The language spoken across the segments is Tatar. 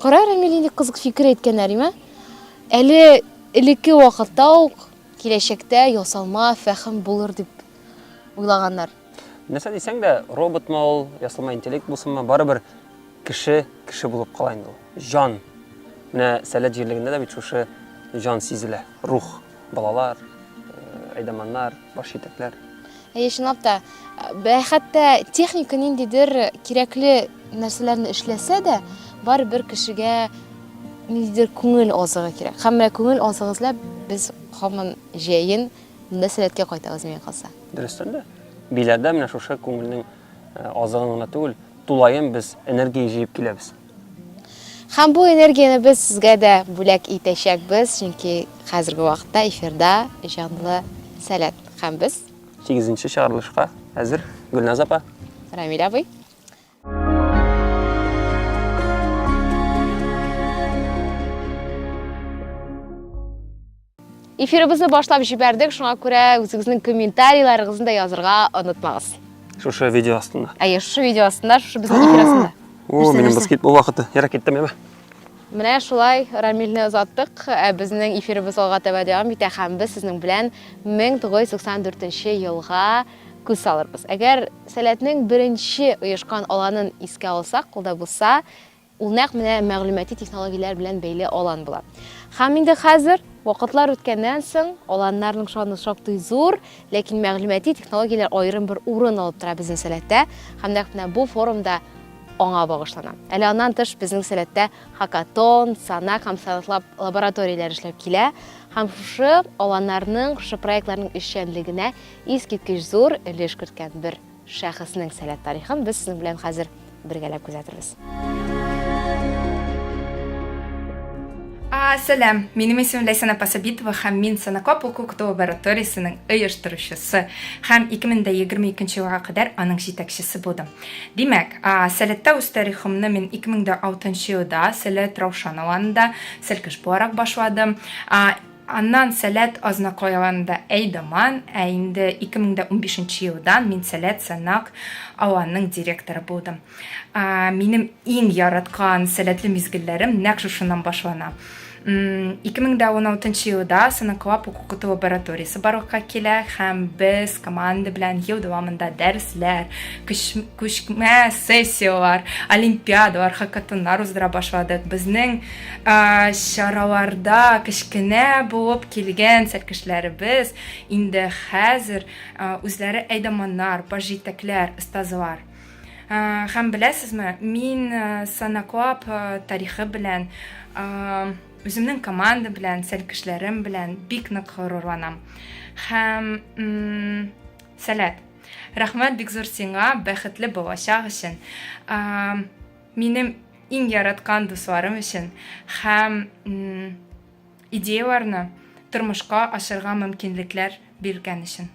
Кара, Рәмил, нинди кызык фикер әйткән Нәримә. Әле элекке вакытта ук киләчәктә ясалма фәһем булыр дип уйлаганнар. Нәрсә дисәң дә, роботмы ул, ясалма интеллект булсынмы, барыбер кеше кеше булып кала инде ул. Җан. Менә Сәләт җирлегендә дә бит шушы җан сизелә, рух. Балалар, әйдаманнар, баш җитәкләр. Әйе, чынлап та, хәтта техника ниндидер кирәкле нәрсәләрне эшләсә дә, барыбер кешегә ниндидер күңел азыгы кирәк. Һәм менә күңел азыгы эзләп без һаман җәен монда сәләткә кайтабыз миңа калса. Дөрестән дә. Биләрдә менә шушы күңелнең азыгын гына түгел, тулаем без энергия җыеп киләбез. Һәм бу энергияне без сезгә дә бүләк итәчәкбез, чөнки хәзерге вакытта эфирда җанлы Сәләт һәм без. Сигезенче чыгарылышка әзер, Гөлназ апа. Рамил абый. Эфирыбызны башлап җибәрдек, шуңа күрә үзегезнең комментарийларыгызны да язырга онытмагыз. Шушы видео астында. Әйе, шушы видео астында, шушы безнең эфир астында. О, минем баскетбол вакыты. Ярак киттем яме. Менә шулай Рамилне озаттык. Ә безнең эфирыбыз алга таба дәвам итә һәм без сезнең белән 1994 елга күз салырбыз. Әгәр Сәләтнең беренче оешкан аланын искә алсак, ул да булса Ул нәкъ менә мәгълүмати технологияләр белән бәйле алан була. Һәм инде хәзер, вакытлар үткәннән соң, аланнарның шаны шактый зур, ләкин мәгълүмати технологияләр аерым бер урын алып тора безнең сәләттә, һәм нәкъ менә бу форум да аңа багышлана. Әле аннан тыш безнең сәләттә хакатон, санак һәм сайлтлаб лабораторияләр эшләп килә, һәм шушы аланнарның, шушы проектларның эшчәнлегенә искиткеч зур өлеш керткән бер Шәхеснең сәләт тарихын без сезнең белән хәзер бергәләп күзәтербез. Сәлам, минем исемем Ләйсән Апасабитова һәм мин Санакоп укыту лабораториясенең оештыручысы һәм 2022 елга кадәр аның җитәкчесе булдым. Димәк, Сәләттә үз тарихымны мин 2006 елда Сәләт Раушан авылында Сәлкеш буларак башладым. Аннан Сәләт Азнакайаланында әйдаман, ә инде 2015 нче елдан мин Сәләт Санак Аланның директоры булдым. Минем иң яраткан сәләтле мизгелләрем нәкъ шушыннан башлана. 2016 нчы елда Санаклап укыту лабораториясе барлыкка килә һәм без команда белән ел дәвамында дәресләр, күчмә сессияләр, олимпиадалар, хакатоннар уздыра башладык. Безнең чараларда кечкенә булып килгән сәркешләребез инде хәзер үзләре әйдаманнар, баш җитәкләр, остазлар. Һәм беләсезме, мин санаклап тарихы белән, үземнең команда белән, сәркешләрем белән бик нык горурланам. Һәм сәләт. Рәхмәт бик зур сиңа, бәхетле булачак өчен. Минем иң яраткан дусларым өчен һәм идеяларны тормышка ашырга мөмкинлекләр биргән өчен.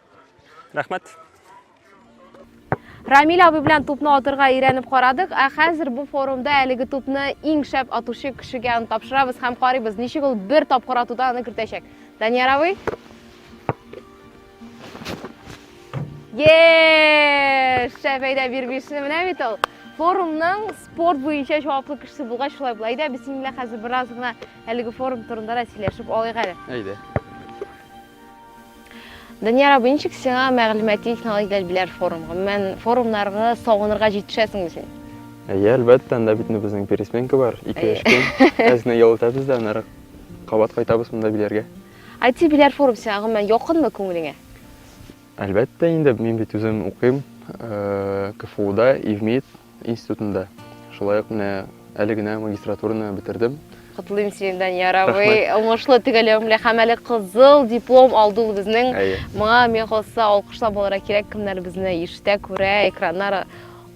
Рәхмәт. Рамиль абый белән тупны атырга өйрәнеп карадык, ә хәзер бу форумда әлеге тупны иң шәп атучы кешегә аны тапшырабыз һәм карыйбыз, ничек ул бер тапкыр атуда аны кертәчәк. Данияр абый. Еш! Шәп әйдә бирбишне менә бит ул. Форумның спорт буенча җаваплы кешесе булгач шулай була. Әйдә без синең белән хәзер бераз гына әлеге форум турында да сөйләшеп алыйк әле. Әйдә. Данияр абый, ничек сиңа мәгълүмати технологияләр биләр форум? Гомумән, форумнарга сагынырга җитешәсеңме син? Әйе, әлбәттә, анда бит безнең пересменка бар, ике-өч көн. Әзне ял итәбез дә, аннары кабат кайтабыз монда биләргә. IT биләр форум сиңа гомумән якынмы күңелеңә? Әлбәттә инде, мин бит үзем укыйм КФУда, ИВМИД институтында. Шулай ук менә әле генә магистратураны бетердем. Котлыйм сине, Данияр абый. Уңышлы төгәлләвең белән һәм әле кызыл диплом алды ул безнең. Моңа миңа калса алкышлап алырга кирәк, кемнәр безне ишетә, күрә, экраннар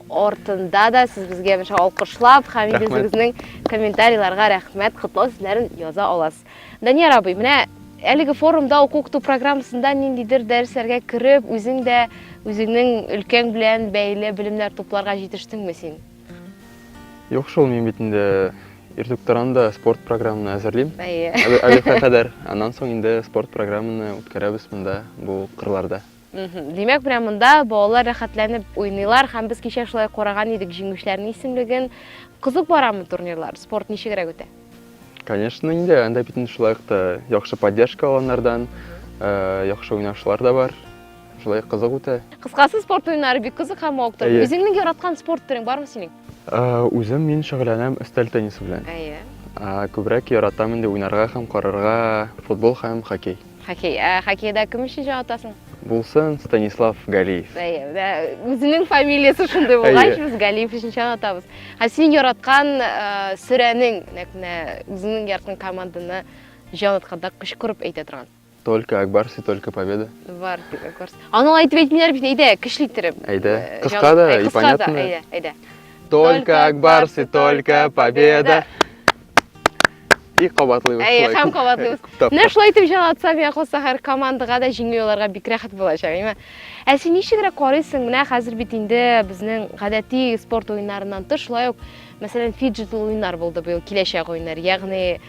артында да сез безгә алкышлап һәм үзегезнең комментарийларга рәхмәт, котлау сүзләрен яза аласыз. Данияр абый, менә әлеге форумда уку-укыту программасында ниндидер дәресләргә кереп, үзең дә үзеңнең өлкәң белән бәйле белемнәр тупларга җитештеңме син? Юк шул, мин бит инде ирдуктаранда спорт программаны әзерлим. Әйе. Әле хәзер кадәр. Аннан соң инде спорт программаны үткәрәбез монда, бу кырларда. Димәк, менә монда балалар рәхәтләнеп уйныйлар һәм без кичә шулай караган идек җиңүчеләрнең исемлеген. Кызык барамы турнирлар? Спорт ничегрәк үтә? Конечно, инде анда бит шулай ук та яхшы поддержка алганнардан, э, яхшы уйнаучылар да бар. Шулай кызык үтә. Кыскасы, спорт уеннары бик кызык һәм мавыктырган. Үзеңнең яраткан спорт төрең бармы синең? Үзем мин шөгыльләнәм өстәл теннисы белән. Әйе. Күбрәк яратам инде уйнарга һәм карарга футбол һәм хоккей. Хоккей. Ә хоккейда кем өчен җаваплысың? Булсын, Станислав Галиев. Әйе, ә үзенең фамилиясе шундый булгач, без Галиев өчен чагатабыз. Ә синең яраткан сөрәнең, нәкъ менә үзеңнең яраткан команданы җан атканда кычкырып әйтә торган? Только Акбарс и только Победа. Бар, дип Акбарс. Аны әйтеп әйтмиләр бит, әйдә, көчле иттереп. Әйдә. Э, кыска да, и понятно. Әйдә, әйдә. Только Акбарс и только Победа. И кабатлыйбыз. Әй, һәм кабатлыйбыз. Менә шулай итеп җанатсам, я калса һәр командага да җиңел аларга бик рәхәт булачак, әйме? Ә син ничегрәк карыйсың? Менә хәзер бит инде безнең гадәти спорт уеннарыннан тыш, шулай ук Мәсәлән, фиджитл уеннар булды быел, киләчәк уеннар. Ягъни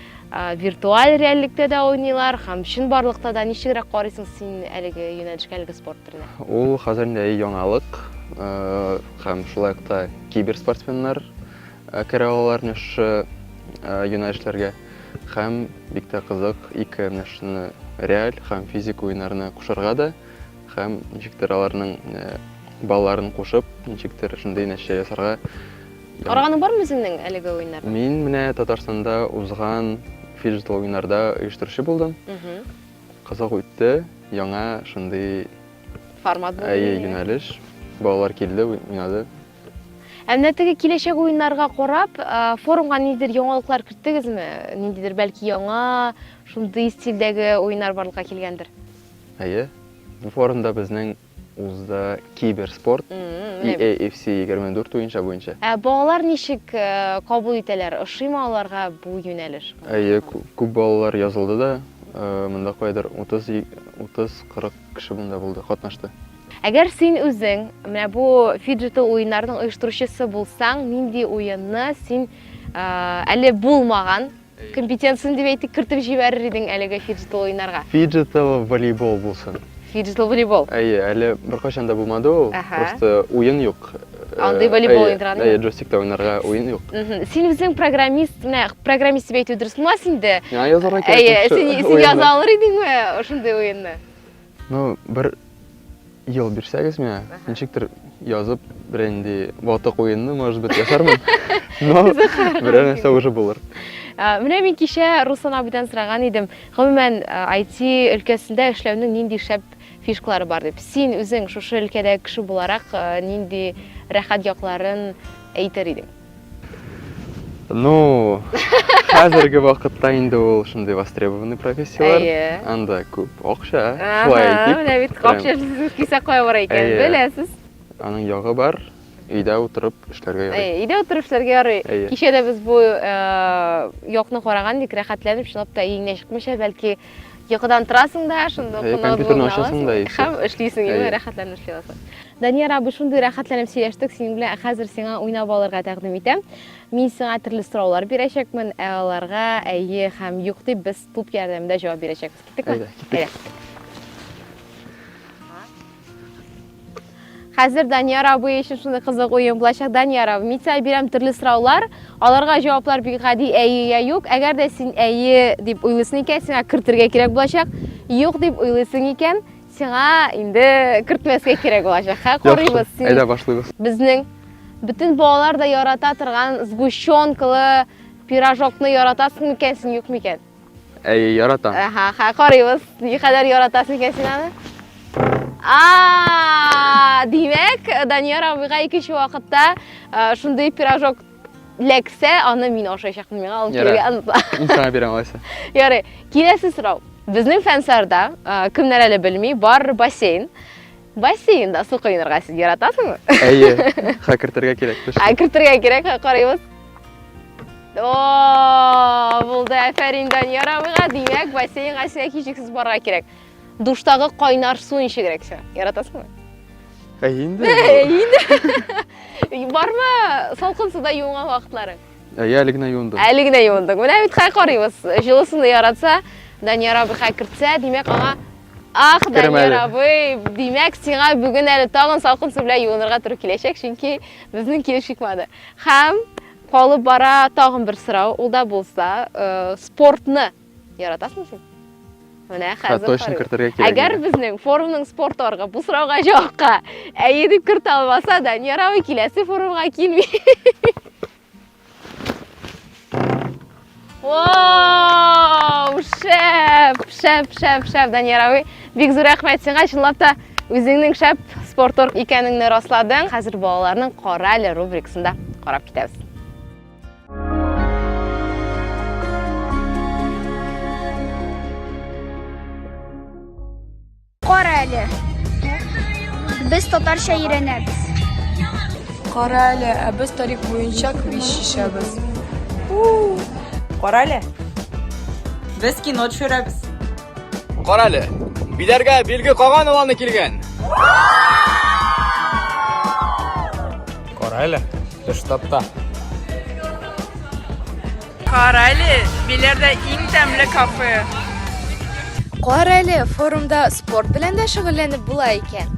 виртуаль реальлектә дә уйныйлар һәм чынбарлыкта да ничегрәк карыйсың син әлеге юнәлешкә, әлеге спорт төренә? Ул хәзер инде яңалык һәм шулай ук та киберспортсменнар керә алалар менә шушы юнәлешләргә һәм бик тә кызык ике менә шуны реаль һәм физик уеннарны кушарга да Һәм ничектер аларның балаларын кушып, ничектер шундый нәрсә ясарга. Караганың бармы үзеңнең әлеге уеннар? Мин менә Татарстанда узган фиджитал уеннарда оештыручы булдым. Кызык үтте, яңа шундый формат булды. Әйе, юнәлеш. Балалар килде, уйнады. Ә менә теге киләчәк уеннарга карап, форумга ниндидер яңалыклар керттегезме? Ниндидер бәлки яңа шундый стильдәге уеннар барлыкка килгәндер? Әйе, бу форумда безнең узды киберспорт, EAFC 24 уенча буенча. Ә балалар ничек кабул итәләр, ошыймы аларга бу юнәлеш? Әйе, күп балалар язылды да, монда кайдыр 30-40 кеше монда булды, катнашты. Әгәр син үзең менә бу фиджитал уеннарның оештыручысы булсаң, нинди уенны син әле булмаган, Компетенцияне дип әйтик, кертеп җибәрер идең әлеге фиджитал уйнарга. Фиджитал волейбол булсын. Фиджитал волейбол. Әйе, әле беркайчан да булмады ул. Просто уен юк. Андый волейбол уйнарга. Әйе, джойстикта уйнарга уен юк. Син үзең программист, менә программист дип әйтү дөрес булмас инде. Миңа язарга кирәк. Әйе, син яза алыр идеңме шундый уенны? Ну, бер ел бирсәгез миңа, ничектер язып, берәр инде ватык уенны, может быть, ясармын. Но берәр нәрсә уже булыр. Ә, Менә мин кичә Руслан абыйдан сораган идем, гомумән IT өлкәсендә эшләүнең нинди шәп фишкалары бар дип. Син үзең шушы өлкәдәге кеше буларак э, нинди рәхәт якларын әйтер идең? Ну, хәзерге вакытта инде ул шундый востребованный профессияләр. Әйе. Анда күп акча. Шулай әйтик. Менә бит акча сезнең кисәк кая бара икән, беләсез. Аның ягы бар. Өйдә утырып эшләргә ярый. Әйе, өйдә утырып эшләргә ярый. Кичә дә без бу якны караган идек, рәхәтләнеп чынлап та иңгә чыкмыйча, бәлки Йокыдан торасың да, шунда ук компьютерны ачасың да и Һәм эшлисең, инде рәхәтләнеп эшли аласың. Данияр абый, шундый рәхәтләнеп сөйләштек синең белән, ә хәзер сиңа уйнап алырга тәкъдим итәм. Мин сиңа төрле сораулар бирәчәкмен, ә аларга әйе һәм юк дип без туп ярдәмендә җавап бирәчәкбез. Киттекме? Әйдә, киттек. Хәзер Данияр абый өчен шуны кызык уен булачак. Данияр абый, мин сиңа бирәм төрле сораулар. Аларга җаваплар бик гади, әйе я юк. Әгәр дә син әйе дип уйлыйсың икән, сиңа кертергә кирәк булачак. Юк дип уйлыйсың икән, сиңа инде кертмәскә кирәк булачак. Хә, карыйбыз. Яхшы, әйдә башлыйбыз. Безнең бөтен балалар да ярата торган сгущенкалы пирожокны яратасың микән син, юк микән? Әйе, яратам. Әһә, хә, карыйбыз. Ни кадәр яратасың икән син аны? А, димәк, Данияр абыйга икенче вакытта э, шундый пирожок ләксә, аны мин ашаячакмын, миңа алып Ярар. килергә онытма. Мин сиңа бирәм алайса. Ярый, киләсе сорау. Безнең фәнсарда, э, кемнәр әле белми, бар бассейн. Бассейнда су коенырга сез яратасыңмы? Әйе, ха кертергә кирәк. Ха кертергә кирәк, ха карыйбыз. О, булды, әфәрин Данияр абыйга. Димәк, бассейнга сиңа кичексез барырга кирәк. Душтагы кайнар су ничегрәк сиңа? Яратасыңмы? Әйе инде. Әйе инде. Бармы салкын суда юынган вакытларың? Әйе, әле генә юындым. Әле генә юындың. Менә бит хай карыйбыз. Җылысын яратса, Данияр абый хай кертсә, димәк, аңа Ах, Данияр абый, димәк, сиңа бүген әле тагын салкын су белән юынырга туры киләчәк, чөнки безнең килеш чыкмады. Һәм калып бара тагын бер сорау, ул да булса, э, спортны яратасың син? Менә хәзер. Точно кертергә кирәк. Әгәр безнең форумның спорт оргы бу сорауга җавапка әйе дип кертә алмаса, Данияр абый киләсе форумга килми. Вау! Шәп, шәп, шәп, шәп, Данияр абый. Бик зур рәхмәт сиңа, чынлап та үзеңнең шәп спорторг икәнеңне расладың. Хәзер балаларның кара әле рубрикасында карап китәбез. Кара әле. Без татарча өйрәнәбез. Кара әле, ә без тарих буенча квиз чишәбез. Кара әле. Без кино төшерәбез. Кара әле. Биләргә билге каган уланы килгән. Кара әле. Без штабта. Карале, Биләрдә иң тәмле кафе. Карале, форумда спорт белән дә шөгыльләнеп була икән.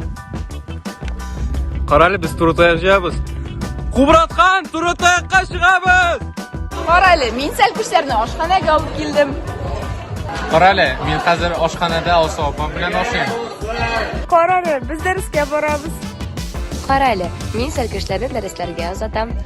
Карале, без Турытая җыябыз. Кубраткан, Турытаякка чыгабыз! Карале, мин сәлкүчләрне ашханәгә алып килдем. Карале, мин хәзер ашханәдә Алсу апам белән ашыйм. Карале, без дәрескә барабыз. Карале, мин сәлкүчләрне дәресләргә озатам.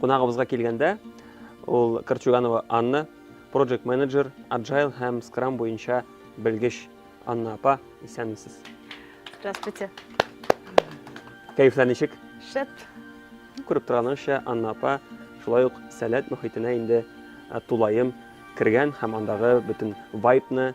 Кунагыбызга килгәндә, ул Корчуганова Анна, проект менеджер, Agile һәм Scrum буенча белгеч. Анна апа, исәнмесез. Здравствуйте. Кәефләр ничек? Шәп. Күреп торганыгызча, Анна апа шулай ук сәләт мөхитенә инде тулаем кергән һәм андагы бөтен вайбны,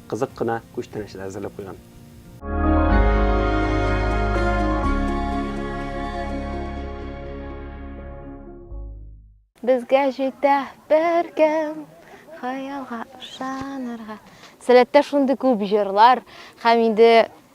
кызык кына күчтәнәчләр әзерләп куйган. Безгә җитә беркем хаялга ышанырга. Сәләттә шундый күп җырлар һәм инде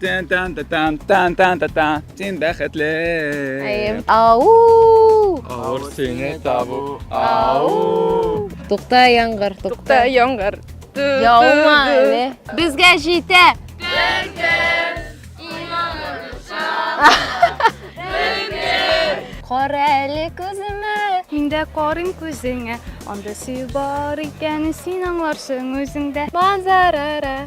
Тан тан та тан тан тан та та Син бәхетле. Әйем. Ау! Авыр сине табу. Ау! Тукта яңгыр, тукта. Яңгыр. Яума әле. Безгә җитә. Кара әле күземә. Мин дә карыйм күзеңә. Анда сөю бар икән, син аңларсың үзеңдә. Манзарара.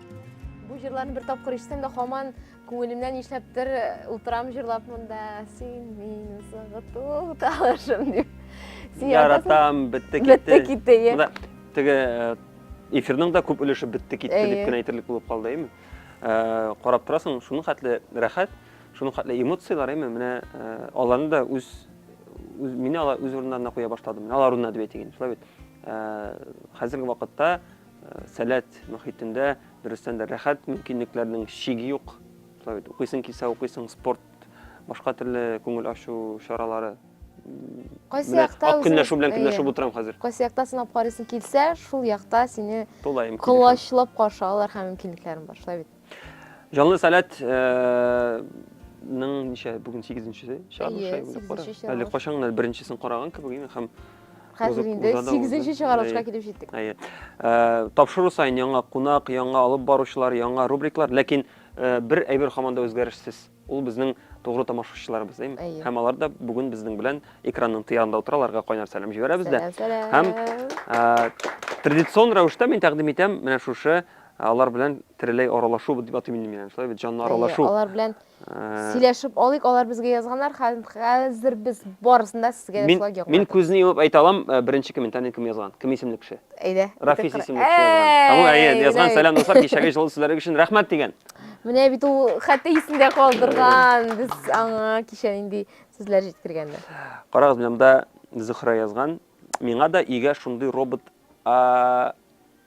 Бу җырларны бер тапкыр ишетсәм дә һаман күңелемнән нишләптер э, утырам җырлап монда. Син мине сагыту талашым дип. Син Яратам, бетте китте. Бетте китте, е. Монда теге э, эфирның да күп өлеше бетте китте Әйе. дип кенә әйтерлек булып калды, әйме? Э, Карап торасың, шуның хәтле рәхәт, шуның хәтле эмоцияләр, әйме? Менә э, аларны да үз үз мине алар үз урыннарына куя башладым. Алар урынына дип әйтегез, шулай бит. Э, Хәзерге вакытта Сәләт мөхитендә дөрестән дә рәхәт, мөмкинлекләрнең чиге юк. Шулай бит, укыйсың килсә укыйсың, спорт, башка төрле күңел ачу чаралары. Кайсы якта үзең... Көнләшү белән көнләшеп утырам хәзер. Кайсы якта сынап карыйсың килсә, шул якта сине колачлап каршы алалар һәм мөмкинлекләрең бар. Шулай бит. Җанлы сәләт ның ничә бүген 8 нчесе чыгарылыш шулай булып бара. Әле качан гына беренчесен караган кебек инде һәм хәзер инде 8 нче чыгарылышка килеп җиттек. Әйе. Э, тапшыру саен яңа кунак, яңа алып баручылар, яңа рубриклар, ләкин э, бер әйбер хаманда үзгәрешсез. Ул безнең тугры тамашачыларыбыз, әйме? Әйе. Һәм алар да бүген безнең белән экранның тыярында утыра, аларга кайнар сәлам җибәрәбез дә. Сәлам, Һәм сәлам. традицион рәвештә мин тәкъдим итәм менә шушы алар белән тереләй аралашу дип атыйм инде мин аны, шулай бит, җанлы Әйе, аралашу. алар белән Э, сөйләшеп алыйк, алар безгә язганнар, хәз- хәзер без барысын да сезгә Мин, ясарга ярдәм мин итәбез. күзне йомып әйтә алам, э, беренче комментарийны кем язган, кем исемле кеше. Әйдә. Рафис исемле кеше язган. Һәм ул, әйе, язган, сәлам, дуслар, кичәге җылы сүзләрегез өчен рәхмәт, дигән. Менә бит ул хәтта исендә калдырган. Без аңа кичә нинди сүзләр җиткергәнбез. Карагыз, менә монда Зөхрә язган. Миңа да өйгә шундый робот а,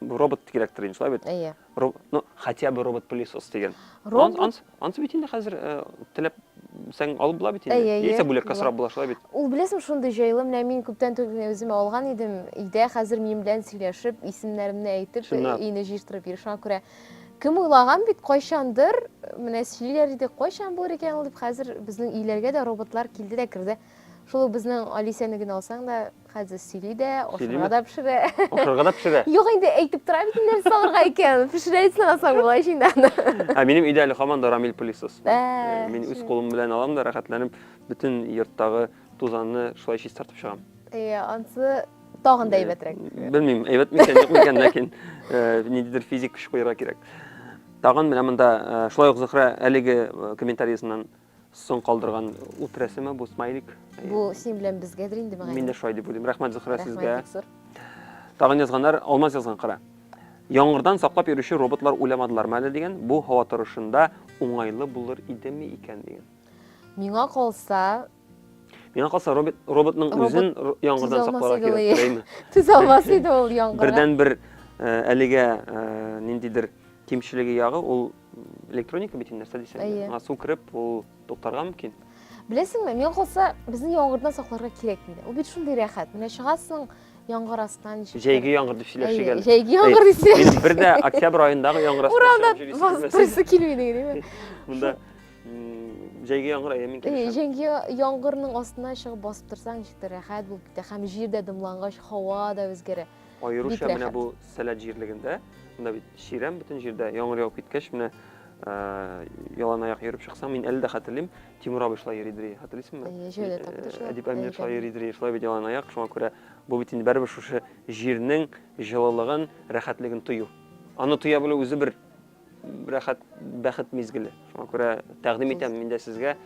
робот кирәктер инде, шулай бит? Әйе. Роб- Ну, хотя бы робот-пылесос дигән. Робот? Анс- Ансы бит инде хәзер э, теләпсәң алып була бит инде. Әйе, әйе, Яисә бүләккә була. сорап була, шулай бит? Ул беләсең шундый җайлы, менә мин күптән түгел генә үземә алган идем. Өйдә хәзер минем белән сөйләшеп, исемнәремне әйтеп, Чынлап. өйне җыештырып йөри. Шуңа күрә Кем уйлаган бит кайчандыр, менә сөйлиләр иде, кайчан булыр икән ул дип, хәзер безнең өйләргә дә роботлар килде дә керде. Шул ук безнең Алисәне генә алсаң да, хәзер сөйли дә, ашарга да пешерә. Ашарга да пешерә. Юк инде, әйтеп тора бит инде нәрсә алырга икән, пешерә дисең алсаң болай чиндан. Ә минем өйдә әле һаман да Рамиль пылесос. Мин үз кулым белән алам да рәхәтләнеп бөтен йорттагы тузанны шулай чистартып чыгам. Э, ансы тагын да э, әйбәтрәк. Белмим, әйбәт микән, юк микән, ләкин э, ниндидер физик көч куярга кирәк. Тагын менә монда шулай ук Зөхрә әлеге комментариясеннән соң калдырган ут рәсеме бу смайлик. Бу син белән безгәдер инде мәгәр. Мин дә шулай дип уйлыйм. Рәхмәт Зөхрә сезгә. Тагын язганнар, алмаз язган кара. Яңгырдан саклап йөрүче роботлар уйламадылармы әле дигән, бу һава торышында уңайлы булыр идеме икән дигән. Миңа калса, Миңа калса робот, роботның Робот үзен р- яңгырдан төзәлмәс сакларга иде кирәк, ул. теләйме? төзәлмәс иде ул яңгырга. Бердән бер э, әлегә э, ниндидер кимчелеге ягы ул электроника бит инде, нәрсә дисәң. дә. Әйе. Аңа су кереп, ул туктарга мөмкин. Беләсеңме, миңа калса, безне яңгырдан сакларга кирәк инде. Ул бит шундый рәхәт. Менә чыгасың яңгыр астынан ничек. Җәйге яңгыр дип сөйләшик Әйе, әле. җәйге яңгыр Әй, дисәң. Мин бер дә октябрь аендагы яңгыр астында Урамда чыгып йөрисем килмәсен. басып торасы килми инде, димме? Монда җәйге яңгыр әйе мин килешәм җәйге яңгырның астына чыгып басып торсаң ничектер рәхәт булып китә һәм җир дә дымлангач һава да үзгәрә аеруча менә бу сәләт җирлегендә монда бит чирәм бөтен җирдә яңгыр явып киткәч менә ялан аяк йөреп чыксаң мин әле дә хәтерлим тимур абый шулай йөри дри хәтерлисеңме җәйдә тапты әдип әмир шулай йөри дри шулай бит ялан аяк шуңа күрә бу бит инде бәребер шушы җирнең җылылыгын рәхәтлеген тою аны тоя белү үзе бер рәхәт бәхет мизгеле. Шуңа күрә тәкъдим итәм мин дә сезгә.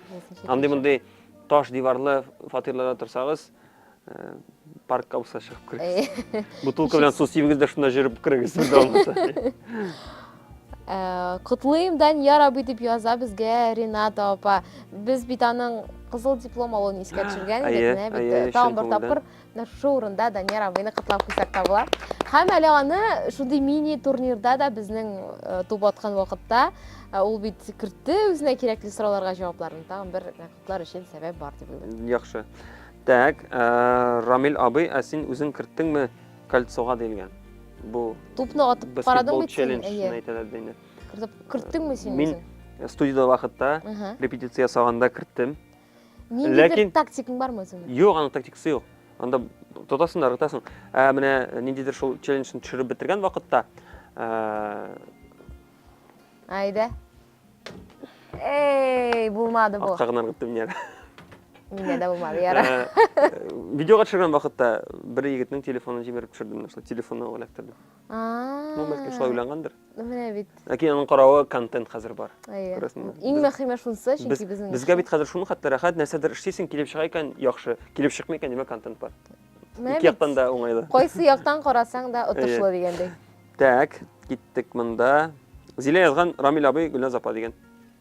Андый-мондый таш диварлы фатирларда торсагыз, э, паркка булса чыгып керегез. Э. Бутылка белән су сибегез дә шунда җөреп керегез без алмаса. Э, Котлыйм Данияр абый дип яза безгә Рената апа. Без бит аның кызыл диплом алуын искә төшергән идек, менә бит тагын бер тапкыр Шушы урында Данияр абыйны котлап куйсак та була. Һәм әле аны шундый мини-турнирда да безнең э, туп аткан вакытта э, ул бит кертте үзенә кирәкле сорауларга җавапларын. Тагын бер котлар өчен сәбәп бар дип уйлыйм. Яхшы. Так, э, Рамил абый, ә син үзең керттеңме кольцога диелгән? Бу Тупны атып карадың бит син. Әйе. Әйтәләр дә инде. Кертеп керттеңме син үзең? Мин студияда вакытта репетиция ясаганда керттем. Ниндидер тактикаң бармы үзеңнең? Юк, аның тактикасы юк. Анда тотасың да ыргытасың. Ә менә ниндидер шул челленджны төшереп бетергән вакытта Әйдә. Эй, булмады бу. Акка гына ыргыттым мин әле. Миңа да булмады, яра. Видеога төшергән вакытта бер егетнең телефонын җимереп төшердем, шул телефонны эләктердем. Ну, бәлкем шулай уйлангандыр. Менә бит. Ләкин аның каравы контент хәзер бар. Күрәсеңме? Иң мөһиме шунсы, чөнки безнең. Безгә бит хәзер шуны хәтта рәхәт, нәрсәдер эшлисең, килеп чыга икән, яхшы. Килеп чыкмый икән, димәк, контент бар. Ике яктан да уңайлы. Кайсы яктан карасаң да отышлы дигәндәй. Так, киттек монда. Зилә язган Рамил абый Гөлназ апа дигән.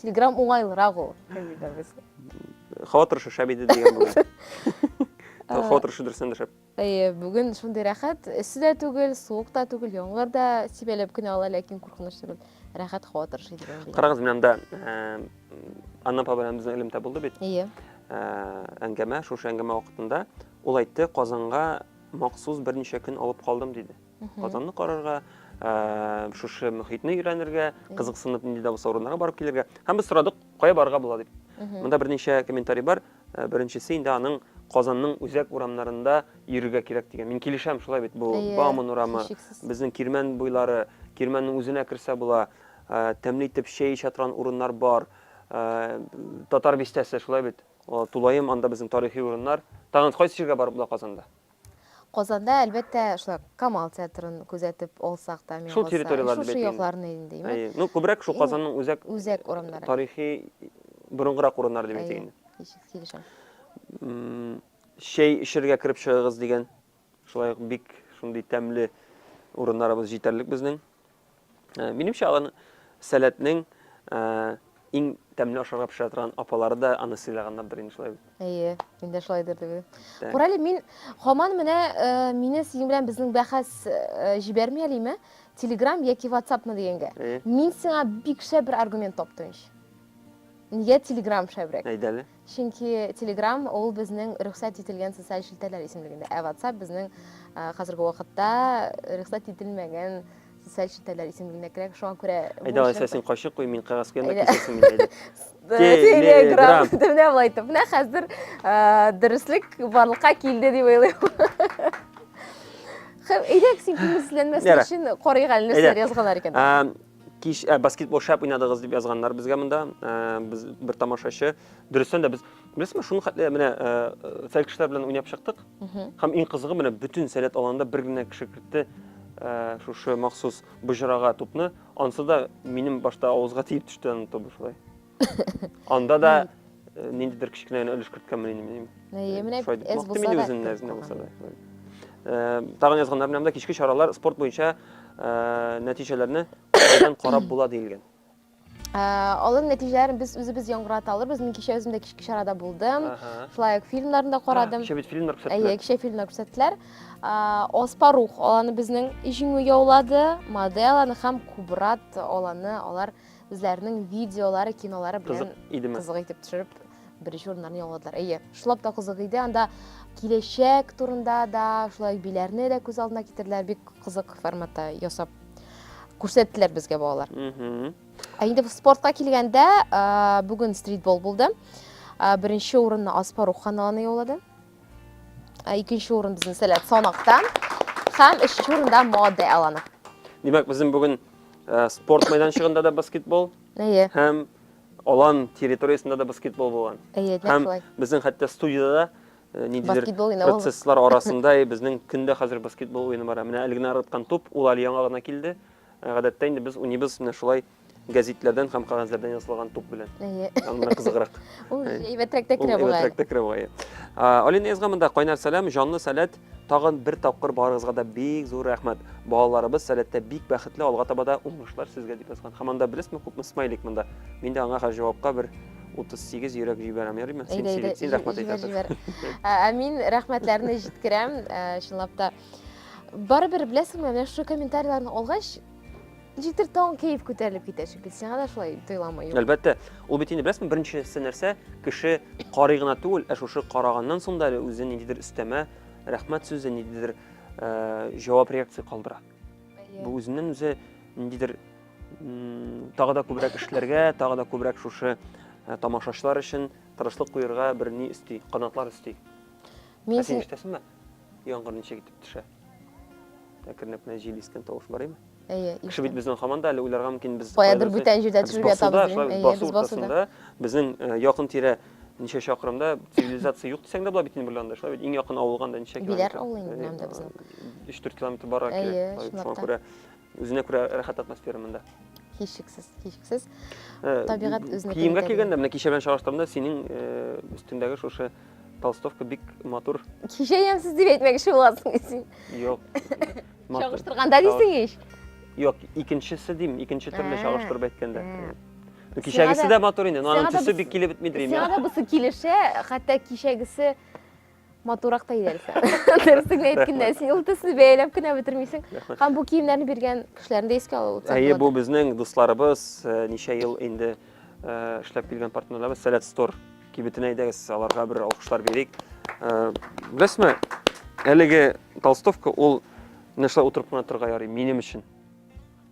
Телеграм уңайлырак ул. Хатырышы шәп иде дигән бүген. Хатырышы дөрестән дә шәп. Әйе, бүген шундый рәхәт. Эссе дә түгел, суык та түгел, яңгыр да сибәләп кенә ала, ләкин куркыныч түгел. Рәхәт хатырышы иде. Карагыз, менә монда э, Анна апа белән безнең элемтә булды бит. Әйе. Э, әңгәмә, шушы әңгәмә вакытында ул әйтте, Казанга махсус берничә көн алып калдым диде. Казанны карарга, шушы мөхитне өйрәнергә, кызыксынып нинди дә булса урыннарга барып килергә. Һәм без сорадык, кая барырга була дип. Монда берничә комментарий бар. Беренчесе инде аның Казанның үзәк урамнарында йөрергә кирәк дигән. Мин килешәм, шулай бит. Бу Бауман урамы, безнең Кирмән буйлары, Кирмәннең үзенә керсә була. Тәмле итеп чәй эчә торган урыннар бар. Татар бистәсе, шулай бит. Тулаем, анда безнең тарихи урыннар. Тагын кайсы җиргә барып була Казанда? Казанда, әлбәттә, шулай ук Камал театрын күзәтеп алсак та, мин Шул калса, территорияләрне шушы бәлки инде. якларны инде, әйеме? Әйе. Ну, күбрәк шул Иң Казанның үзәк үзәк урамнары. тарихи борынгырак урыннары дип әйтик Әйе, инде. кичес килешәм. М, Чәй эчәргә кереп чыгыгыз дигән, шулай ук бик шундый тәмле урыннарыбыз җитәрлек безнең. Э, минемчә аларның сәләтнең э, иң тәмле ашарга пешерә торган апалары да аны сыйлаганнардыр инде шулай бит әйе мин дә шулай дип уйлыйм күр әле мин һаман менә э, мине синең белән безнең бәхәс җибәрми әлиме телеграм яки ватсапмы дигәнгә мин сиңа бик шәп бер аргумент таптым ич нигә телеграм шәбрәк әйдә әле Чөнки Telegram ул безнең рөхсәт ителгән социаль челтәрләр исемлегендә, ә WhatsApp безнең хәзерге вакытта рөхсәт ителмәгән социаль челтәрләр исемлегенә керә. Шуңа күрә Әйдә, Айса, син кайчык куй, мин кәгазь куям, кисәсен мин әйдә. Telegram. Менә болай итеп. Менә хәзер дөреслек барлыкка килде дип уйлыйм. Әйдәк син күңелсезләнмәсен өчен карыйк әле нәрсәләр язганнар икән. Кич ә, баскетбол шәп уйнадыгыз дип язганнар безгә монда. Ә, без бер тамашачы. Дөрестән дә без беләсезме, шуны хәтле менә фәл кешеләр белән уйнап чыктык. Һәм иң кызыгы менә бөтен сәләт аланда бер генә кеше кертте шушы махсус боҗрага тупны. Ансы да минем башта авызга тиеп төште аны тубы шулай. Анда да э, ниндидер кечкенә генә өлеш керткәнмен инде мин. Әйе, менә эз булса да. Мин үзем нәзенә булса да. Э, тагын язганнар белән дә кичке чаралар спорт буенча э, нәтиҗәләрне күздән карап була диелгән. Алын нәтиҗәләрен без үзебез яңгырата алырбыз. Мин кичә үзем дә кичке чарада булдым. Флайк фильмнарында карадым. Кичә бит фильмнар күрсәттеләр. Әйе, кичә фильмнар күрсәттеләр. Оспарух аланы безнең җиңү яулады. Моделаны һәм Кубрат аланы алар үзләренең видеолары, кинолары белән кызык итеп төшереп, беренче урыннарны яуладылар. Әйе, шулап та кызык иде. Анда киләчәк турында да, шулай биләрне дә күз алдына китерделәр. Бик кызык форматта ясап күрсәттеләр безгә балалар. Ә инде спортка килгәндә, бүген стритбол булды. Беренче урынны Аспарух каналына яулады. Ә икенче урын безнең сәләт санакта һәм өченче урында мода аланы. Димәк, безнең бүген э, спорт мәйданчыгында да баскетбол Әйе. һәм алан территориясендә да баскетбол булган. Әйе, нәкъ Һәм шулай. безнең хәтта студияда да э, ниндидер Баскетбол уйнап алдык. процесслар арасында и безнең көндә хәзер баскетбол уены бара. Менә әле генә ыргыткан туп, ул әле яңа гына килде. Ә, Гадәттә инде без уйныйбыз менә шулай Гәзитләрдән һәм кагазьләрдән ясалган туп белән. Әйе. Аннан кызыграк. Ул әйбәтрәк тә керә бугай. Әйбәтрәк тә керә бугай. Алина язган монда кайнар сәлам, җанлы сәләт, тагын бер тапкыр барыгызга да бик зур рәхмәт. Балаларыбыз сәләттә бик бәхетле, алга таба да уңышлар сезгә дип язган. Һәм анда белесезме, күпме смайлик монда. Мин дә аңа хәзер җавапка бер 38 йөрәк җибәрәм, ярыймы? Син сөйләп, син рәхмәт әйтәсең. Ә мин рәхмәтләрне җиткерәм, чынлап та. Барыбер беләсеңме, менә шушы комментарийларны алгач, Җитер таң кәеф күтәрелеп китә шикелле. Сиңа да шулай тоеламы? Әлбәттә, ул бит инде беләсеңме, беренчесе нәрсә, кеше карый гына түгел, ә шушы караганнан соң да әле үзе ниндидер өстәмә рәхмәт сүзе, ниндидер э, җавап реакция калдыра. Бу үзеннән үзе ниндидер тагы да күбрәк эшләргә, тагы да күбрәк шушы э, тамашачылар өчен тырышлык куерга бер ни өсти, канатлар өсти. Мин ә син ишетәсеңме? Яңгыр ничек итеп төшә? Әкренләп кенә җил искән тавыш бар име? Әйе, искән. Кеше бит безнең һаман да әле уйларга мөмкин без каядыр бүтән җирдә төшеп ятабыз дип. Әйе, без басуда. Безнең э, якын тирә ничә чакрымда цивилизация юк дисәң дә була бит инде бер анда, шулай бит. Иң якын авылга анда ничә километр? Биләр авылы инде анда безнең. 3-4 километр барырга кирәк. Әйе, чынлап та. Үзенә күрә рәхәт атмосфера монда. Һичшиксез, һичшиксез. Э, Табигать үзенә Киемгә килгәндә, менә кичә белән чагыштырганда, синең э, өстендәге шушы толстовка бик матур. Кичә ямсыз дип әйтмәкче буласың син. Юк. Чагыштырганда дисең ич. Юк, икенчесе дим, икенче төрле чагыштырып әйткәндә. Кичәгесе дә матур инде, но аның төсе бик килеп бетмидер. Сиңа да бусы килешә, хәтта кичәгесе матуррак та иярсең дөрестеңне әйткәндә син ул төсне бәяләп кенә бетермисең һәм бу киемнәрне биргән кешеләрне дә искә алу әйе бу безнең дусларыбыз э, ничә ел инде э, эшләп килгән партнерларыбыз сәләт стор кибетенә әйдәгез аларга бер алкышлар бирик э, беләсезме әлеге толстовка ул менә шулай утырып кына торырга ярый минем өчен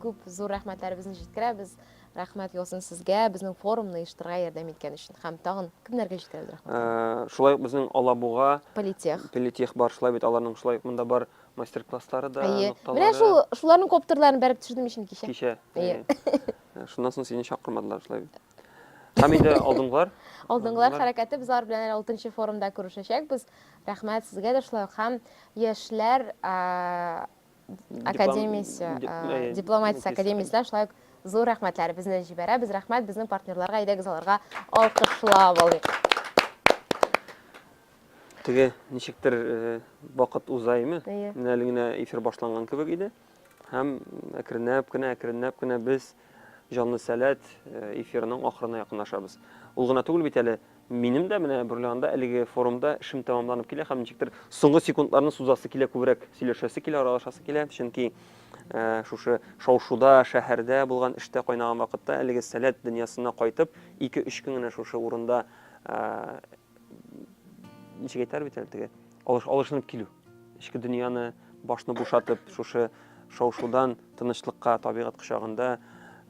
Күп зур рәхмәтләребезне җиткерәбез. Рәхмәт яусын сезгә, безнең форумны оештырырга ярдәм иткән өчен. Һәм тагын кемнәргә җиткерәбез рәхмәт? Э, шулай ук безнең Алабуга Политех. Политех бар, шулай бит аларның шулай ук монда бар мастер-класслары да, Әйе. нокталары. Менә шул шуларның коптерларын бәреп төшердем мин кичә. Кичә. Әйе. Э, шуннан соң сине чакырмадылар шулай бит. Һәм инде алдынгылар. Алдынгылар хәрәкәте без алар белән әле 6 форумда күрешәчәкбез. Рәхмәт сезгә дә шулай ук һәм яшьләр академиясе, э, дипломатия академиясенә шулай ук зур рәхмәтләребезне җибәрәбез. Рәхмәт безнең партнерларга, әйдәгез аларга алкышлап алыйк. Теге ничектер э, вакыт уза име? Менә әле генә эфир башланган кебек иде. Һәм әкренләп кенә, әкренләп кенә без Җанлы сәләт э, эфирының ахырына якынлашабыз. Ул гына түгел бит әле Минем дә менә бер анда әлеге форумда эшем тәмамланып килә һәм ничектер соңгы секундларны сузасы килә, күбрәк сөйләшәсе килә, аралашасы килә, чөнки э, шушы шаушуда, шәһәрдә булган эштә кайнаган вакытта әлеге сәләт дөньясына кайтып, 2-3 көн генә шушы урында э, ничек әйтәр бит әле теге алыш, алышынып килү. Эчке дөньяны башны бушатып, шушы шаушудан тынычлыкка, табигать кочагында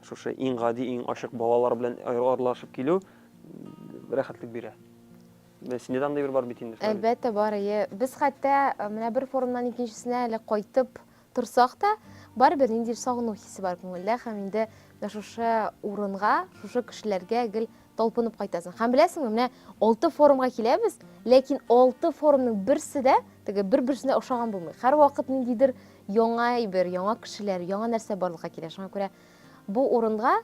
шушы иң гади, иң ачык балалар белән аралашып килү рәхәтлек бирә. Менә синдә дә андый бер бар бит инде. Әлбәттә бар, әйе. Без хәтта э, менә бер форумнан икенчесенә әле кайтып торсак та, барыбер ниндидер сагыну хисе бар күңелдә һәм инде менә шушы урынга, шушы кешеләргә гел талпынып кайтасың. Һәм беләсеңме, менә алты форумга киләбез, ләкин алты форумның берсе дә теге бер-берсенә ошаган булмый. Һәрвакыт ниндидер яңа әйбер, яңа кешеләр, яңа нәрсә барлыкка килә. Шуңа күрә бу урынга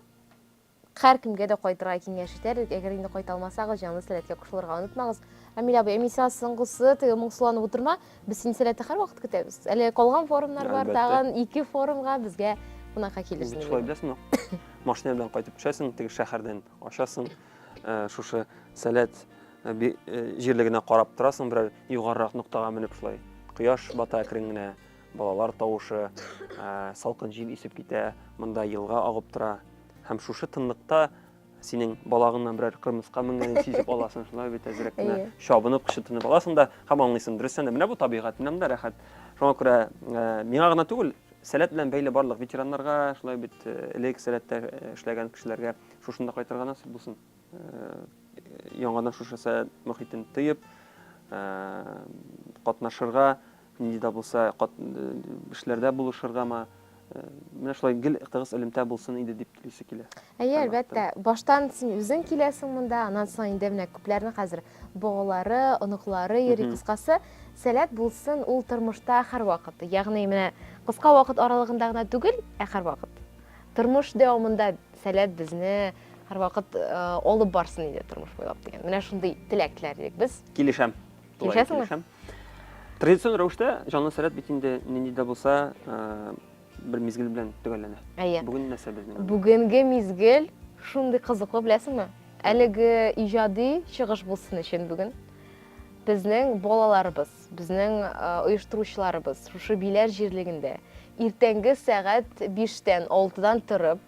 Һәркемгә дә кайтырга киңәш итәр идек. Әгәр инде кайта алмасагыз, җанлы сәләткә кушылырга онытмагыз. Амиль абый, ә мин сиңа соңгысы, теге моңсуланып утырма. Без сине сәләттә һәрвакыт көтәбез. Әле калган форумнар бар, Әлбәттә. тагын ике форумга безгә кунакка килерсең. Бит шулай, беләсеңме? Машина белән кайтып төшәсең, теге шәһәрдән ачасың, э, шушы сәләт э, би- э, җирлегенә карап торасың, берәр югарырак ноктага менеп шулай. Кояш бата әкрен генә, Балалар тавышы, салкын җил исеп китә, монда елга агып тора. Һәм шушы тынлыкта синең балагыңнан берәр кырмыска менгәнен сизеп аласың, шулай бит әзрәк кенә чабынып, кычытынып аласың да һәм аңлыйсың, дөрестән дә менә бу табигать, менә монда рәхәт. Шуңа күрә миңа гына түгел, сәләт белән бәйле барлык ветераннарга, шулай бит элек сәләттә эшләгән кешеләргә шушында кайтырга насыйп булсын. Яңадан шушы сәләт мөхитен тыеп, катнашырга, Нинди дә булса кат эшләрдә булышыргамы, менә шулай гел тыгыз элемтә булсын иде дип телисе килә. Әйе, әлбәттә. Баштан син үзең киләсең монда, аннан соң инде менә күпләрнең хәзер балалары, оныклары йөри. Кыскасы, сәләт булсын ул тормышта һәрвакыт. Ягъни менә кыска вакыт аралыгында гына түгел, ә һәрвакыт. Тормыш дәвамында сәләт безне һәрвакыт алып барсын иде тормыш буйлап дигән. Менә шундый теләк теләр идек без. Килешәм. Килешәсеңме? Килешәм. Традицион рәвештә җанлы сәләт бит инде нинди дә булса э, бер мизгел белән төгәлләнә. Әйе. Бүген нәрсә безнең? Бүгенге мизгел шундый кызыклы, беләсеңме? Әлеге иҗади чыгыш булсын өчен бүген безнең балаларыбыз, безнең э, оештыручыларыбыз шушы Биләр җирлегендә иртәнге сәгать 5-тән 6-дан торып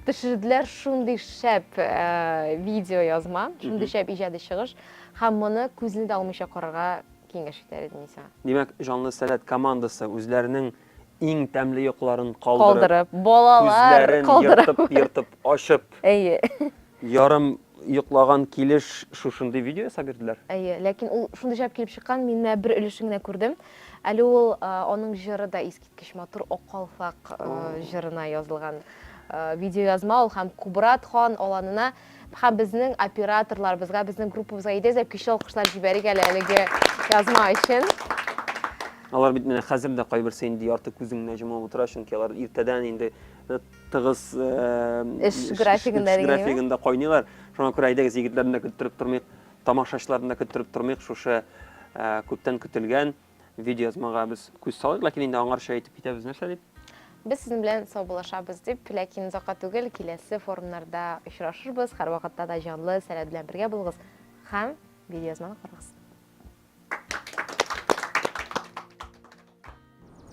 төшерделәр шундый шәп э, видео язма, шундый шәп иҗади чыгыш. Һәм моны күзне дә алмыйча карарга киңәш итәр идем мин сиңа. Димәк, Җанлы сәләт командасы үзләренең иң тәмле йокыларын калдырып, калдырып балалар калдырып, күзләрен ертып-ертып ачып, әйе, ярым йоклаган килеш шушындый видео ясап йөрделәр. Әйе, ләкин ул шундый җавап килеп чыккан, мин менә бер өлешен генә күрдем. Әле ул аның җыры да искиткеч матур, Ак калфак җырына язылган видеоязма ул һәм Кубрат хан аланына Һәм безнең операторларыбызга, безнең группабызга идез дә көчле алкышлар җибәрик әле әлеге язма өчен. Алар бит менә хәзер дә кайберсе инде ярты күзен генә җомып утыра, чөнки алар иртәдән инде э, тыгыз э, эш графигында графигында кайныйлар. Шуңа күрә әйдәгез егетләрне дә көттереп тормыйк, тамашачыларны да көттереп тормыйк, шушы э, күптән көтелгән видеоязмага без күз салыйк, ләкин инде аңарча әйтеп китәбез нәрсә дип. Без сезнең белән саубуллашабыз дип, ләкин озакка түгел киләсе форумнарда очрашырбыз. Һәрвакытта да җанлы сәләт белән бергә булыгыз һәм видеоязманы карагыз.